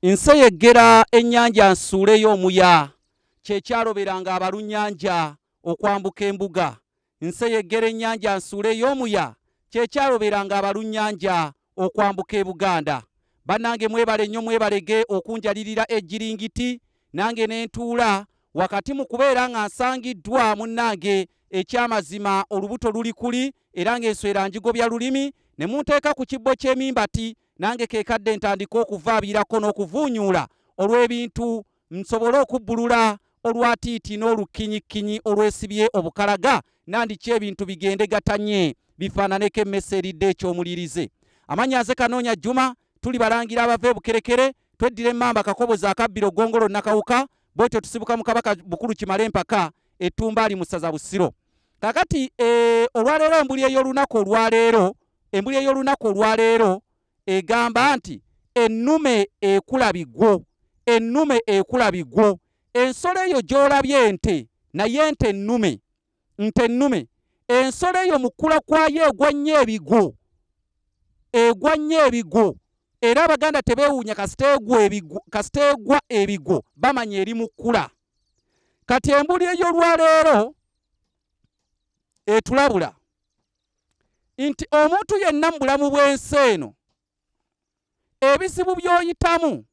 Nseyeggera ennyanja nsuuleyo omuya, kye kyaloberanga abalunnyanja okwambuka embuga. Nseyeggera ennyanja nsuuleyo omuya, kye kyaloberanga abalunnyanja okwambuka e Buganda. Bannange mwebale nnyo mwebalege okunjalirira e Jjiringiti nange ne ntuula wakati mu kubeera nga nsangiddwa munnange ekyamazima olubuto luli kuli era ng'enswera njigobya lulimi ne munteeka ku kibbo ky'emimbati nange kekadde ntandika okuvaabirako n'okuvuunyuula olw'ebintu nsobole okubbulula olwatiiti n'olukkinyikkinyi olwesibye obukalaga nandiki ebintu bigende gatanye bifaananeko emmese eridde eky'omulirize amannya nze kanoonya jjuma tuli balangira abava ebukerekere tweddira emmamba kakobozi akabbiro gongolo nakawuka bwetyo tusibuka mu kabaka bukulu kimale empaka ettumbaali mu ssaza busiro kakati eh, olwaleero embuli ey'olunaku olwaleero embuli ey'olunaku olwaleero egamba nti ennume ekula bigwo ennume ekula bigwo ensolo eyo gy'olabye ente naye nte ennume nte ennume ensolo eyo mukula kwayo egwa nnyo ebigwo egwa nnyo ebigwo era abaganda tebeewuunya kasita egwa ebigwo bamanya eri mu kkula kati embuli ey'olwaleero etulabula nti omuntu yenna mu bulamu bw'ensi eno ebizibu by'oyitamu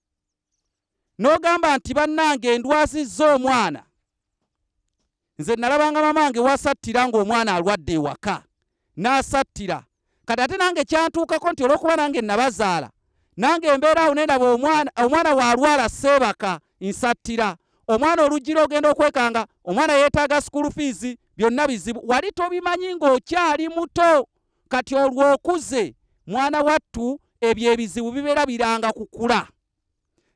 n'ogamba nti bannange ndwazizza omwana nze nalabanga mamange wasattira ng'omwana alwadde ewaka n'asattira kati ate nange kyantuukako nti olw'okuba nange nabazaala nange embeera awo nendaba omwana omwana waalwala seebaka nsattira omwana oluggira ogenda okwekanga omwana yeetaaga school fees byonna bizibu wali tobimanyi ng'okyali muto kati olwo okuze mwana wattu ebyo ebizibu bibeera biranga kukula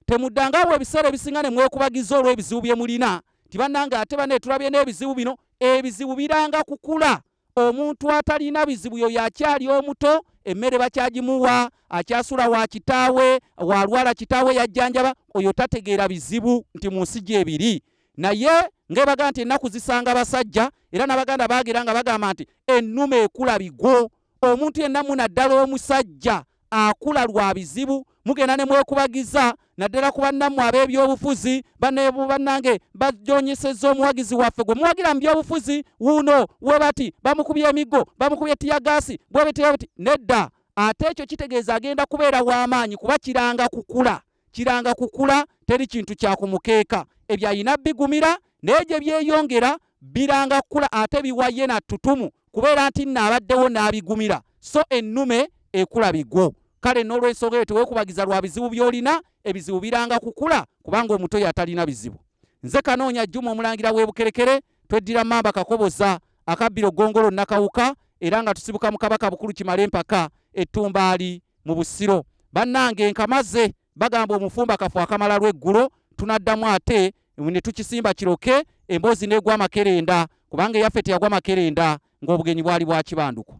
temuddangawo ebiseera ebisinga ne mwekubagiza olw'ebizibu bye mulina nti bannange ate bane tulabye n'ebizibu bino ebizibu biranga kukula omuntu atalina bizibu yoyo akyali omuto emmere bakyagimuwa akyasula wa kitaawe walwala kitaawe yajjanjaba oyo tategeera bizibu nti mu nsi gyebiri naye ngaebaga nti ennaku zisanga basajja era n'abaganda bagira nga bagamba nti ennume ekula bigwo omuntu yenna munaddala omusajja akula lwa bizibu mugenda ne mwekubagiza naddala ku bannammwe ab'ebyobufuzi banebu bannange bajonyesezza omuwagizi waffe gwe muwagira mu byobufuzi wuuno we bati bamukubye emiggo bamukubye tiyagaasi bwebetebeti nedda ate ekyo kitegeeza agenda kubeera w'amaanyi kuba kiranga kukula kiranga kukula teri kintu kyakumukeeka ebyo alina bigumira naye gye byeyongera biranga kukula ate biwaye na tutumu kubeera nti nno abaddewo n'abigumira so ennume ekula bigwo kale n'olwensonga eyo tewekubagiza lwa bizibu by'olina ebizibu biranga kukula kubanga omuto yatalina bizibu nze kanoonya juma omulangira w'ebukerekere tweddira mamba kakoboza akabbiro gongolo nakawuka era nga tusibuka mu kabaka bukulu kimale empaka ettumbaali mu busiro bannange nkamaze bagamba omufumba kafu akamala lweggulo tunaddamu ate ne tukisimba kiroke emboozi negwa makerenda kubanga eyaffe teyagwa makerenda ng'obugenyi bwali bwakibanduko